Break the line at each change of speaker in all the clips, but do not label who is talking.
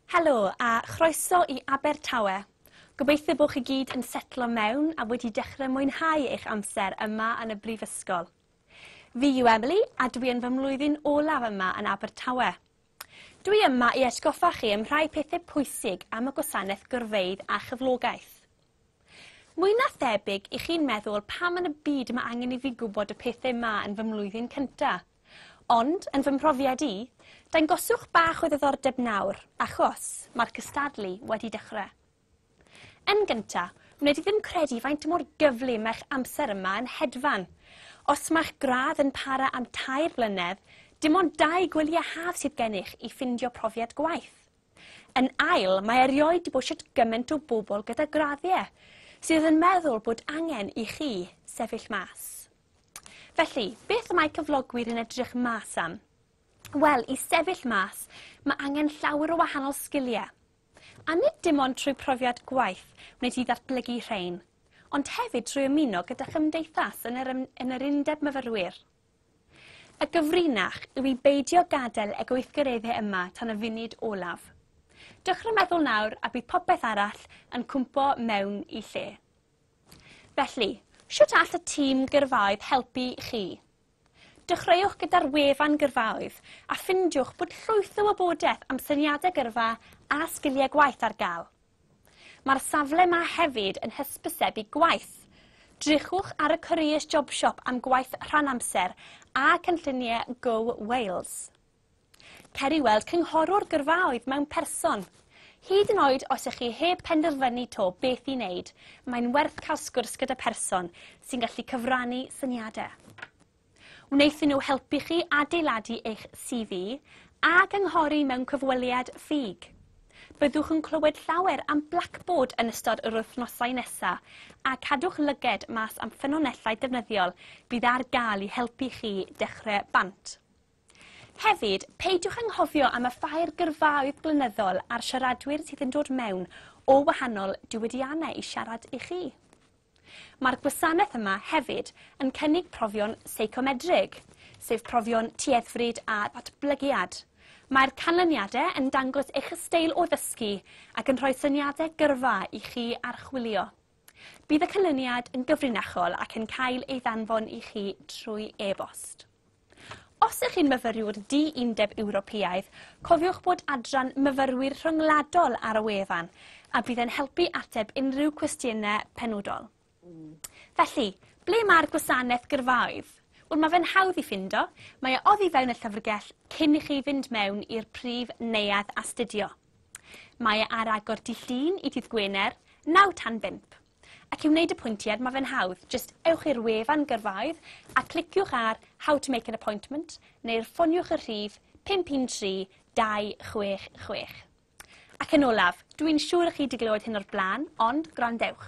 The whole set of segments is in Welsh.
Helo a chroeso i Abertawe! Gobeithio bo chi gyd yn setlo mewn a wedi dechrau mwynhau eich amser yma yn y Brifysgol. Fi yw Emily a dwi yn fy mlwyddyn olaf yma yn Abertawe. Dwi yma i atgoffa chi am rhai pethau pwysig am y gwasanaeth gyrfeydd a chyflogaeth. Mwy na thebyg i chi'n meddwl pam yn y byd mae angen i fi gwybod y pethau ma yn fy mlwyddyn cyntaf. Ond, yn fy mhrofiad i, dangoswch bach o ddiddordeb nawr, achos, mae'r cystadlu wedi dechrau. Yn gynta, wned i ddim credu faint mor gyflym mae'ch amser yma yn hedfan. Os mae'ch gradd yn para am tair blynedd, dim ond dau gwyliau haf sydd gennych i ffindio profiad gwaith. Yn ail, mae erioed di bod shwt gymaint o bobl gyda graddiau, sydd yn meddwl bod angen i chi sefyll mas. Felly, beth y mae cyflogwyr yn edrych mas am? Wel, i sefyll mas, mae angen llawer o wahanol sgiliau. A nid dim ond trwy profiad gwaith wneud ti ddatblygu rhain, ond hefyd trwy ymuno gyda chymdeithas yn yr, yn yr Undeb Myfyrwyr. Y gyfrinach yw i beidio gadael y gweithgareddau yma tan y funud olaf. Dechrau meddwl nawr a bydd popeth arall yn cwmpo mewn i lle. Felly, sut all y tîm gyrfaoedd helpu chi? Dechreuwch gyda'r wefan gyrfaoedd a ffindiwch bod llwyth o wybodaeth am syniadau gyrfa a sgiliau gwaith ar gael. Mae'r safle 'ma hefyd yn hysbysebu gwaith. Drychwch ar y Careers Jobshop am gwaith rhan-amser a cynlluniau Go Wales. Cer i weld cynghorwr gyrfaoedd mewn person. Hyd yn oed os ych chi heb penderfynu 'to beth i wneud, mae'n werth cael sgwrs gyda pherson sy'n gallu cyfrannu syniadau. Wnaethon nhw helpu chi adeiladu eich CV a gynghori mewn cyfweliad ffug. Byddwch yn clywed llawer am Blackboard yn ystod yr wythnosau nesa, a cadwch lyged mas am ffynonellau defnyddiol bydd ar gael i helpu chi dechrau bant. Hefyd, peidiwch anghofio am y ffair gyrfaoedd blynyddol a'r siaradwyr sydd yn dod mewn o wahanol diwydiannau i siarad i chi. Mae'r gwasanaeth yma hefyd yn cynnig profion seicomedrig, sef profion tueddfryd a ddatblygiad. Mae'r canlyniadau yn dangos eich ysteil o ddysgu ac yn rhoi syniadau gyrfa i chi archwilio. Bydd y canlyniad yn gyfrinachol ac yn cael ei ddanfon i chi trwy e-bost. Os ych chi'n myfyriwr di-undeb Ewropeaidd, cofiwch bod adran Myfyrwyr Rhyngwladol ar y wefan, a bydd e'n helpu ateb unrhyw cwestiynau penodol. Felly, ble mae'r gwasanaeth gyrfaoedd? Wel, mae fe'n hawdd i ffindo, mae e oddi fewn y llyfrgell cyn i chi fynd mewn i'r prif neuadd astudio. Mae e ar agor dydd Llun i dydd Gwener, naw tan bump. Ac i wneud y pwyntiad, mae fe'n hawdd, jyst ewch i'r wefan gyrfaoedd a cliciwch ar How to make an appointment neu'r ffoniwch y rhif 513 266. Ac yn olaf, dw i'n siŵr y chi wedi glywed hyn o'r blaen, ond gwrandewch.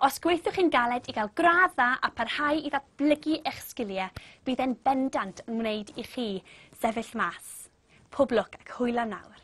Os gweithiwch chi'n galed i gael gradd dda a pharhau i ddatblygu eich sgiliau, bydd e'n bendant yn wneud i chi sefyll mas. Pob lwc ac hwyl am nawr.